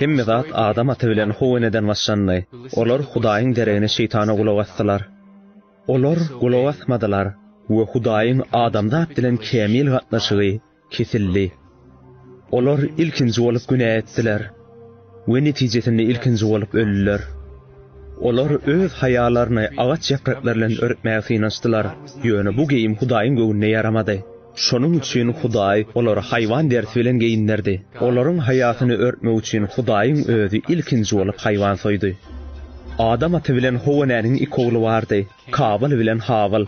Hemme zat Adam ata bilen Howeneden başlandy. Olar Hudaýyň deregine şeýtana gulak asdylar. Olar gulak asmadylar we Hudaýyň adamzat bilen kämil gatnaşygy kesildi. Olar ilkinji bolup günä etdiler we netijesinde ilkinji bolup öldüler. Olar öz haýalaryny agaç ýapraklary bilen örtmäge synanyşdylar, ýöne bu geýim Hudaýyň göwnüne ýaramady. Şonuň üçin Hudaý olary haýwan derisi bilen geýindirdi. Olaryň haýasyny örtmek üçin Hudaýyň Özi ilkinji bolup haýwan soýdy. Adam ata bilen How enäniň iki ogly bardy, Kabyl bilen Habyl.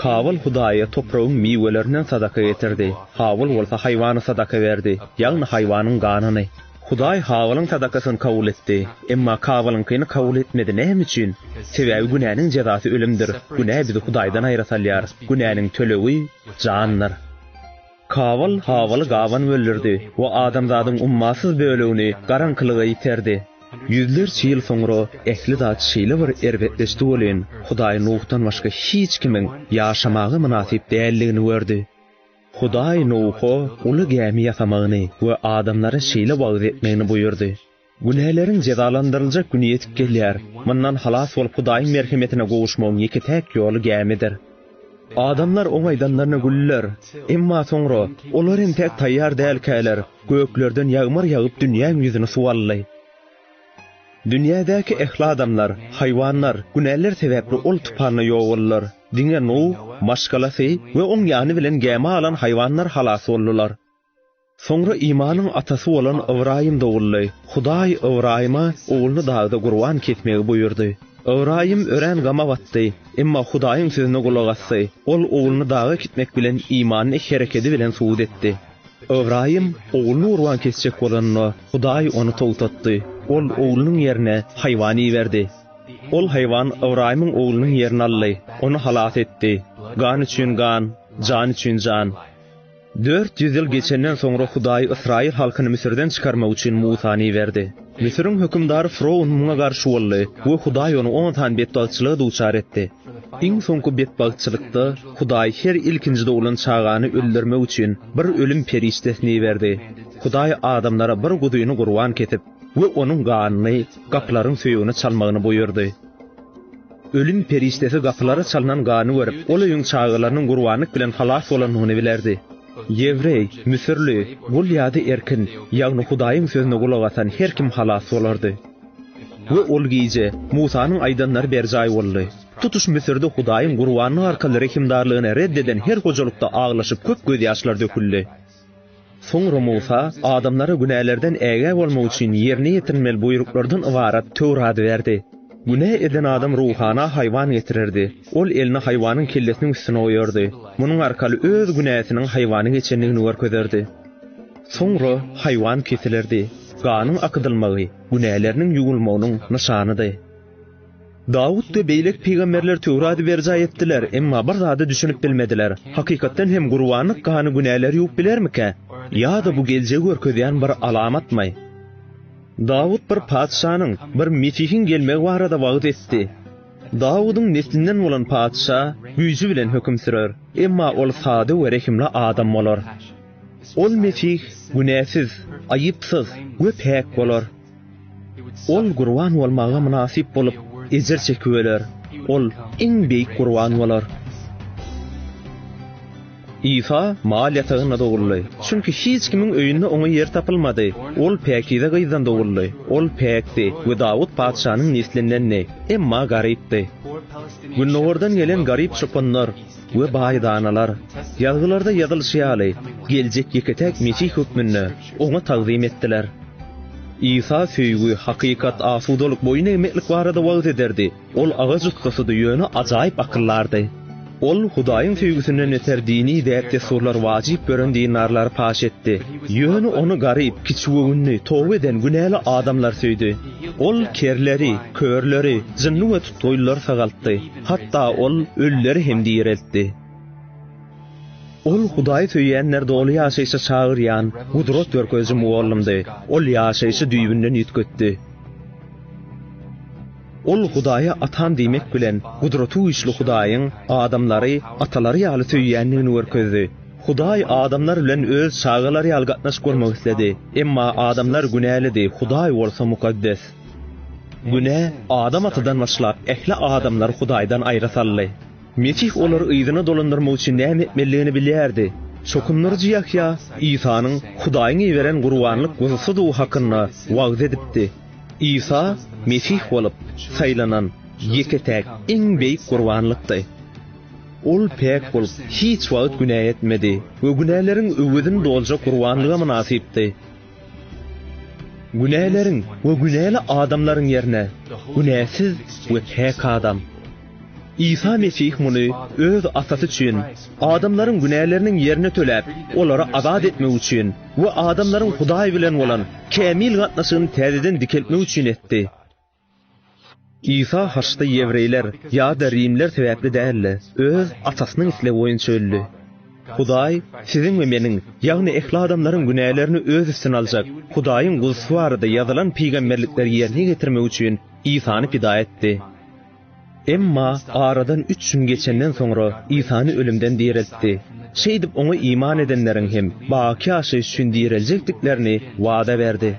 Kabyl Hudaýa topragyň miwelerinden sadaka getirdi, Habyl bolsa haýwany sadaka berdi, ýagny haýwanyň ganyny. Hudaý Habylyň sadakasyny kabul etdi, emma Kabylyňkyny kabul etmedi. Näme üçin? Sebäbi günäniň jezasy ölümdir. Günä bizi Hudaýdan aýra salýar. Günäniň tölegi, jandyr. Kabul habaly gaban böldürdi we adamzadyň ummasyz bölegini garaňkylyga iterdi. Ýüzlerçe ýyl soňra ähli zat şeýle bir erbetleşdi welin, Hudaý Nuhdan başga hiç kimiň ýaşamaga mynasyp däldigini gördi. Hudaý Nuha uly gämi ýasamagyny we adamlara şeýle wagyz etmegini buýurdy. Günäleriň jezalandyryljak güni ýetip gelýär. Mundan halas bolup Hudaýyň merhemetine gowuşmagyň ýeke-täk ýoly gämidir. Adamlar oň aýdanlaryna güldiler. Emma soňra, olar hem täk taýýar dälkäler, göklerden ýagmyr ýagyp dünýäň ýüzüni suw aldy. Dünýädäki ähli adamlar, haýwanlar, günäleri sebäpli ol tupanda ýok boldular. Diňe Nuh, maşgalasy we oň ýany bilen gämä alan haýwanlar halas boldular. Soňra Imanyň atasy bolan Ybraýym doguldy. Hudaý Ybraýyma ogluny dagda gurban kesmegi buýurdy. Ybraýym örän gama batdy, emma Hudaýyň sözüne gulak asdy. Ol ogluny daga kitmek bilen imanyny herekedi bilen subut etdi. Ybraýym ogluny gurban kesjek bolanda, Hudaý ony togtatdy. Ol oglunyň ýerine haýwan iberdi. Ol haýwan Ybraýymyň oglunyň ýerini aldy, ony halas etdi. Gan üçin gan, jan üçin jan. Dört ýüz ýyl geçenden soňra Hudaý ysraýyl halkyny Müsürden çykarmak üçin Musany iberdi. Müsüriň hökümdary froun muňa garşy boldy we Hudaý ony on sany betbagtçylyga duçar etdi. Iň soňky betbagtçylykda Hudaý her ilkinji doglan çagany öldürmek üçin bir ölüm perişdesini iberdi. Hudaý adamlara bir guzyny gurban kesip we onuň ganyny gapylaryň söýegine çalmagyny buýurdy. Ölüm perişdesi gapylara çalnan gany görüp, ol öýüň çagalarynyň gurbanlyk bilen halas bolandygyny bilerdi. Ýewreý, müsürli, gul ýa-da erkin, ýagny Hudaýyň sözüne gulak asan her kim halas bolardy. We ol gije Musanyň aýdanlary berjaý boldy. Tutuş Müsürde Hudaýyň gurbanlyk arkaly rehimdarlygyny red eden her hojalykda aglaşyp köp gözýaşlar döküldi. Soňra Musa adamlara günälerden ägä bolmak üçin ýerine ýetirilmeli buýruklardan ybarat Töwrady berdi. Günä eden adam ruhana haýwan getirerdi. Ol elini haýwanyň kellesiniň üstüne goýardy. Munuň arkaly öz günäsiniň haýwana geçendigini görkezerdi. Soňra haýwan kesilerdi. Ganyň akydylmagy günäleriniň ýuwulmagynyň nyşanydy. Dawut we beýleki pygamberler Töwraty berjaý etdiler, emma bir zada düşünip bilmediler, Hakykatdan hem gurbanlyk gany günäleri ýuwup bilermikä? Ýa-da bu geljegi görkezýän bir alamatmy? Dawut bir patyşanyň, bir Mesihiň gelmegi barada wagyz etdi. Dawudyň neslinden bolan patyşa güýji bilen höküm sürer, emma ol sada we rehimli adam bolar. Ol Mesih günäsiz, aýypsyz we päk bolar. Ol gurban bolmaga mynasyp bolup, ejir çekip öler. Ol iň beýik gurban bolar. Isa mal ýatagynda doguldy. Çünki hiç kimiň öýünde oňa ýer tapylmady. Ol päkize gyzdan doguldy. Ol päkdi we Dawut patyşanyň neslindendi, emma garypdy. Gündogardan gelen garyp çopanlar. we baýdanalar, Ýazgylarda ýazylyşy ýaly, geljek ýeke-täk Mesih hökmünde Oňa tagzym etdiler. Isa söýgi, hakykat, asudalyk, boýun egmeklik barada wagyz ederdi. Ol agaç ussasydy, ýöne ajaýyp akyldardy. Ol Hudaýyň söýgüsinden öter dini däp-dessurlary wajyp gören dindarlary paş etdi. Ýöne ony garyp, kiçigöwünli, toba eden günäli adamlar söýdi. Ol kerleri, körleri, jynly we tutgaýlylary sagaltdy. Hatda Ol ölüleri hem direltdi. Ol Hudaýy söýýänleri doly ýaşaýşa çagyrýan gudrat görkeziji mugallymdy. Ol ýaşaýşy düýbünden üýtgetdi. Ol Hudaýa Atam diýmek bilen, Gudratygüýçli Hudaýyň adamlary atalary ýaly söýýändigini görkezdi. Hudaý adamlar bilen öz çagalary ýaly gatnaşyk gurmak isledi. Emma adamlar günälidi, Hudaý bolsa mukaddes. Günä Adam atadan başlap, ähli adamlary Hudaýdan aýra saldy. Mesih olary yzyna dolandyrmak üçin näme etmelidigini bilýärdi. Çokundyryjy Ýahýa Isanyň Hudaýyň iberen gurbanlyk guzusydygy hakynda wagyz edipdi. Isa Mesih bolup saýlanan ýeke-täk iň beýik gurbanlykdy. Ol päk bolup, hiç wagt günä etmedi we günäleriň öwezini doljak gurbanlyga mynasypdy. Günäleriň we günäli adamlaryň ýerine günäsiz we päk adam. Isa Mesih muny Öz Atasy üçin, adamlaryň günäleriniň ýerini töläp, olary azat etmek üçin we adamlaryň Hudaý bilen bolan kämil gatnaşygyny täzeden dikeltmek üçin etdi. Isa haçda ýewreýler ýa-da rimler sebäpli däl-de, öz Atasynyň islegi boýunça öldi. Hudaý siziň we meniň, ýagny ähli adamlaryň günälerini öz üstüne aljak Hudaýyň Guzusy barada ýazylan pygamberlikleri ýerine ýetirmek üçin Isany pida etdi. Emma aradan üç gün geçenden soňra Isany ölümden direltdi. Şeýdip oňa iman edenleriň hem baky ýaşaýyş üçin direljekdiklerini wada berdi.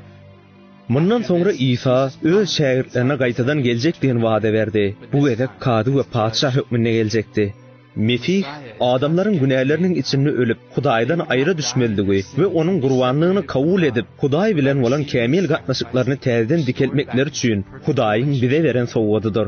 Mundan soňra Isa Öz şägirtlerine gaýtadan geljek diýen wada berdi. Bu gezek Kazy we Patyşa hökmünde geljekdi. Mesih adamlaryň günäleriniň içinde ölüp, Hudaýdan aýra düşmelidigi we Onuň gurbanlygyny kabul edip, Hudaý bilen bolan kämil gatnaşyklaryny täzeden dikeltmekleri üçin Hudaýyň bize beren sowgadydyr.